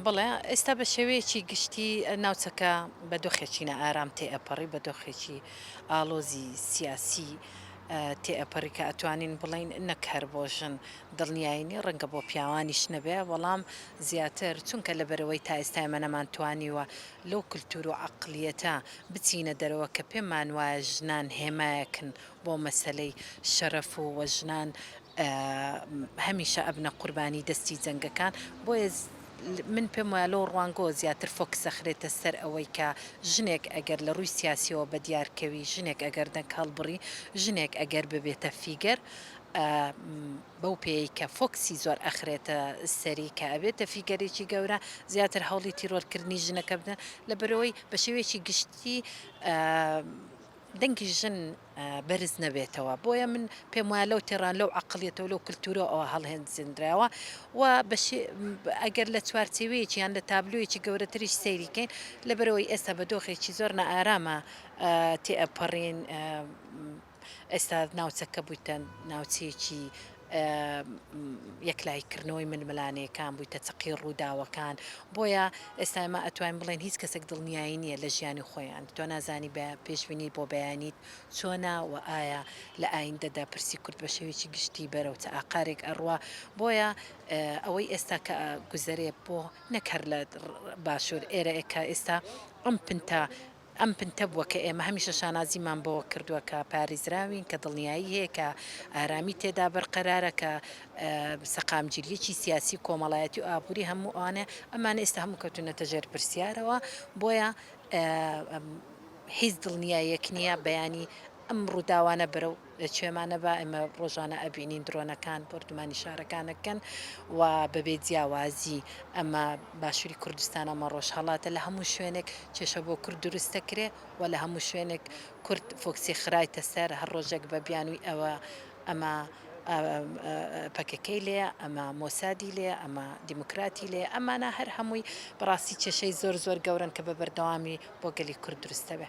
بەڵێ، ئێستا بە شێوەیەکی گشتی ناوچەکە بە دۆخێکی نائارام تێئەپەڕی، بە دۆخێکی ئاڵۆزی سیاسی تێئەپەڕی کە ئەتوانین بڵێین نەک هەر بۆ ژن دڵنیایی نییە، ڕەنگە بۆ پیاوانیش نەبێ، بەڵام زیاتر چونکە لەبەرئەوەی تا ئێستا ئێمە نەمانتوانیوە لەو کلتور و عەقڵیەتە بچینە دەرەوە کە پێمانوایە ژنان هێمایەکن بۆ مەسەلەی شەرەف و و ژنان هەمیشە ئەبنە قوربانی دەستی جەنگەکان بۆیە من پێم وایە لەو ڕوانگەوە زیاتر فۆکس دەخرێتە سەر ئەوەی کە ژنێک ئەگەر لە ڕووی سیاسیەوە بە دیار کەوی ژنێک ئەگەر دەنگ هەڵبڕی ژنێک ئەگەر ببێتە فیگەر بەو پێی کە فۆکسی زۆر ئەخرێتە سەری کە ئەبێتە فیگەرێکی گەورە زیاتر هەوڵی تیرۆرکردنی ژنەکە بدەن لە بەرەوەی بە شێوەیەکی گشتی دەنگی ژن بەرز نەبێتەوە بۆیە من پێم وایە لەو تێڕان لەو عقلیەتەوە لەو کللتورە ئەوە هەڵهێنجندراوە و ئەگەر لە چوارچێوەیەکی یان لە تابلویەکی گەورەتریش سەیریکەین لەبەرەوەی ئێستا بە دۆخێکی زۆر نە ئارامە تێ ئەپەڕین ئێستا ناوچەکە بوویتە ناوچەیەکی یەکلاییکردنەوەی ململانێکان بوویتە چەقی ڕووداوەکان، بۆیە ئێستا ئێمە ئەتوانین بڵێین هیچ کەسێک دڵنیایی نییە لە ژیانی خۆیان، تۆ نازانی بە پێشبینی بۆ بەیانیت چۆنە و ئایا لە ئایندەدا پرسی کورد بە شێوەیەکی گشتی بەرەو چ ئاقارێک ئەڕوا، بۆیە ئەوەی ئێستا کە ئەگوزەرێ بۆ نەک هەر لە باشوور ئێرە کە ئێستا ئەم پنتە. ئەم پنتە بووە کە ئێمە هەمیشە شانازیمان بەوە کردووە کە پارێزراوین، کە دڵنیایی هەیە کە ئارامی تێدا بەرقەرارە، کە سەقامگیرییەکی سیاسی و کۆمەڵایەتی و ئابووری هەموو ئەوانە هەیە، ئەمانە ئێستا هەموو کەوتوونەتە ژێر پرسیارەوە، بۆیە هیچ دڵنیاییەک نییە بەیانی ئەم ڕووداوانە بەرەو. لە چێمانە با ئێمە ڕۆژانە ئەبینین درۆنەکان بۆردومانی شارەکانەکەن و بەبێ جیاوازی ئەمە باشووری کوردستان ئەمە ڕۆژهەڵاتە لە هەموو شوێنێک کێشە بۆ کورد دروست دەکرێ و لە هەموو شوێنێک کورد فۆکسی خرایتە سەر هەر ڕۆژێک بە بیانووی ئەوە ئەمە پەکەکەی لێ ئەمە مۆسادی لێ ئەمە دیموکراتی لێ ئەمانە هەر هەمووی بەڕاستی کێشەی زۆر زۆر گەورن کە بە بەردەوامی بۆ گەلی کورد دروستەبێ.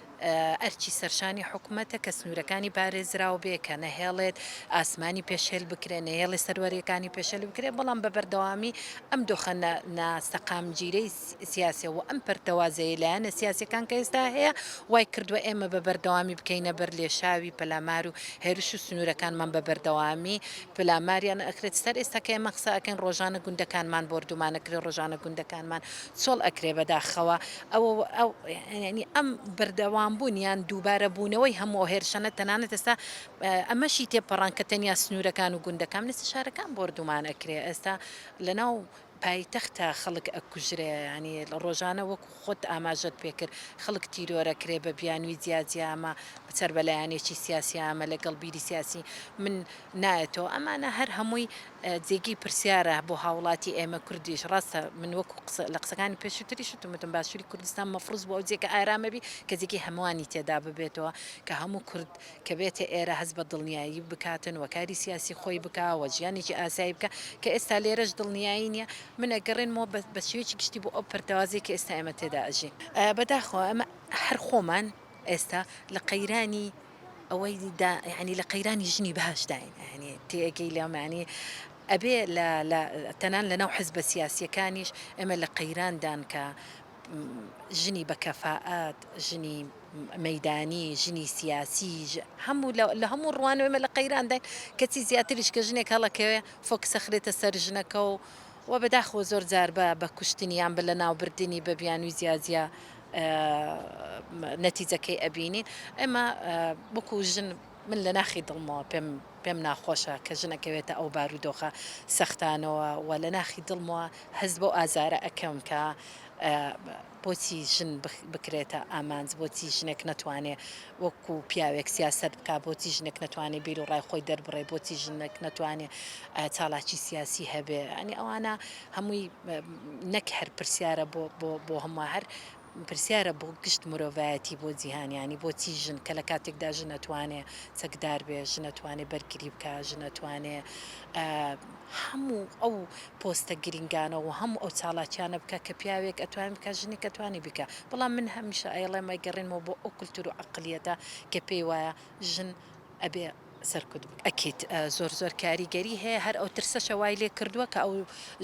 ئەرکی سەرشانی حکومەتە کە سنوورەکانی پارێزراو بێ، کە نەهێڵێت ئاسمانی پێشێل بکرێت، نەهێڵێت سەروەرییەکانی پێشێل بکرێت، بەڵام بە بەردەوامی ئەم دۆخە ناسەقامگیرەی سیاسییە و ئەم پەرتەوازەیەی لایەنە سیاسییەکان کە ئێستا هەیە، وای کردووە ئێمە بە بەردەوامی بکەینە بەر لێشاوی پەلامار و هێرش و سنوورەکانمان بە بەردەوامی پەلاماریان ئەکرێت، سەر ئێستا کە ئێمە قسە ئەکەین ڕۆژانە گوندەکانمان بۆردومان ئەکرێت، ڕۆژانە گوندەکانمان چۆڵ ئەکرێت، بەداخەوە ئەوەوە ئەم بەردەوام بوون یان دووبارە بوونەوەی هەموو هێرشانە تەنانەت ئێستا ئەمەشی تێپەڕاند کە تەنیا سنوورەکان و گوندەکان نسی شارەکان بۆردومان ئەکرێ ئێستا لەناو پایتەختە خەڵک ئەکوژرێ ینی ڕۆژانە وەکو خۆت ئاماژەت پێکرد خەڵک تیرۆرە کرێ بە بیانوی جیاجیامە بچەر بەلایەنێکی سیاسیامە لەگەڵ بیری سیاسی من نایەتەوە ئەمانە هەر هەمووی جێگەی پرسیارە بۆ هاوڵاتی ئێمە کوردیش، ڕاستە من وەکو قسە لە قسەکانی پێشوتریش وتم وتم باشوری کوردستان مەفروز بوو ئەو جێگە ئارامە بی کە جێگەی هەموانی تێدا ببێتەوە کە هەموو کورد کە بێتە ئێرە هەست بە دڵنیایی بکاتن و کاری سیاسی خۆی بکا و ژیانێکی ئاسایی بکا کە ئێستا لێرەش دڵنیایی نیە من ئەگەڕێنمەوە بە بە شێوەیەکی گشتی بۆ ئەو پەرتەوازەی کە ئێستا ئێمە تێدا ئەژین. بەداخەوە ئێمە هەر خۆمان ئێستا لە قەیرانی. ئەوەی دا یعنی لە قەیرانی ژنی باشداین ئەهنی تێگەی لەمانی ئەبێ تەنان لە ناو حزبە سیاسیەکانیش ئێمە لە قەیراندان کە ژنی بە کەفاعات ژنی مەدانی ژنی سیاسی هەموو لە هەموو ڕوان ئێمە لە قەیرانداین کەچی زیاتریش کە ژنێک هەڵەکەوێ فۆکسەخرێتە سەر ژنەکە و و بەداخۆ زۆر جار بە بە کوشتنیان بە لە ناوبردنی بە بیانوی زیازیە نەتیجەکەی ئەبینین ئەمە وەکو ژن من لە ناخی دڵمەوە پێم پێم ناخۆشە کە ژنەکەوێتە ئەو بارودۆخە سەختانەوە و لە ناخی دڵمەوە هەست بۆ ئازارە ئەکەم کە بۆچی ژن بکرێتە ئامانج بۆچی ژنێک نەتوانێ وەکو پیاوێک سیاست بک بۆچی ژنێک نەتوانێ بیر و ڕای خۆی دەربڕێ بۆچی ژنێک نەتوانێ چالاکی سیاسی هەبێ ئەنی ئەوانە هەمووی نەک هەر پرسیارە بۆ بۆ بۆ هەموو هەر پرسیارە بۆ گشت مرۆڤایەتی بۆ جیهان ینی بۆچی ژن کە لە کاتێکدا ژن ئەتوانێ چەکدار بێ ژن ئەتوانێ بەرگری بکە ژن ئەتوانێ هەموو ئەو پۆستە گرنگانە و هەموو ئەو چاڵاکیانە بکە کە پیاوێک ئەتوان بکە ژنی کە توانی بکە بەڵام من هەمیشە ئەیڵێ مەگەڕێنەوە بۆ ئەو کولتور و عقلیەتە کە پێی وایە ژن ئەبێ سەرکوت بکەن ئەکید زۆر زۆر کاریگەری هەیە هەر ئەو ترسەشە وای لێ کردووە کە ئەو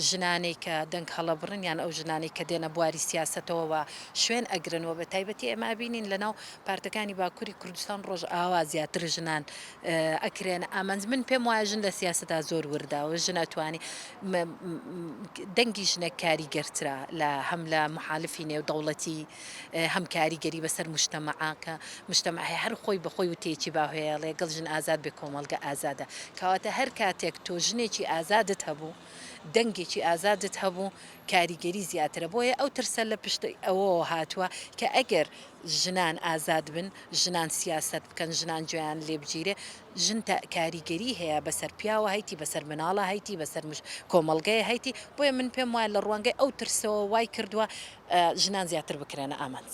ژنانەی کە دەنگ هەڵەبڕن یان ئەو ژنانەی کە دێنە بواری سیاسەتەوە وە شوێن ئەگرن وە بە تایبەتی ئێمە ئەبینین لە ناو پارتەکانی باکوری کوردستان ڕۆژئاوا زیاتر ژنان ئەکرێنە ئامانج من پێم وایە ژن لە سیاسەتا زۆر وردە و ژن ئەتوانی دەنگی ژنێک کاریگەرترە لە هەم لە محالفی نێو دەوڵەتی هەم کاریگەری بەسەر موجتەمەعە کە موجتەمەع هەیە هەر خۆی بەخۆی وتەیەکی باهێڵێ گەڵ ژن ئازاد بێ کۆمەڵگە ئازادە کەواتە هەر کاتێک تۆ ژنێکی ئازادت هەبوو دەنگێکی ئازادت هەبوو کاریگەری زیاترە بۆیە ئەو ترسە لە پشت ئەوەوە هاتووە کە ئەگەر ژنان ئازاد بن ژنان سیاسەت بکەن ژنان جوێیان لێبگیرێ ژن تا کاریگەری هەیە بەسەر پیاوە هەیتی بەسەر مناڵە هەیتی بەسەر کۆمەڵگەیە هەیتی بۆیە من پێم وایە لە ڕوانگەی ئەو ترسەوە وای کردووە ژنان زیاتر بکرێنە ئامانج.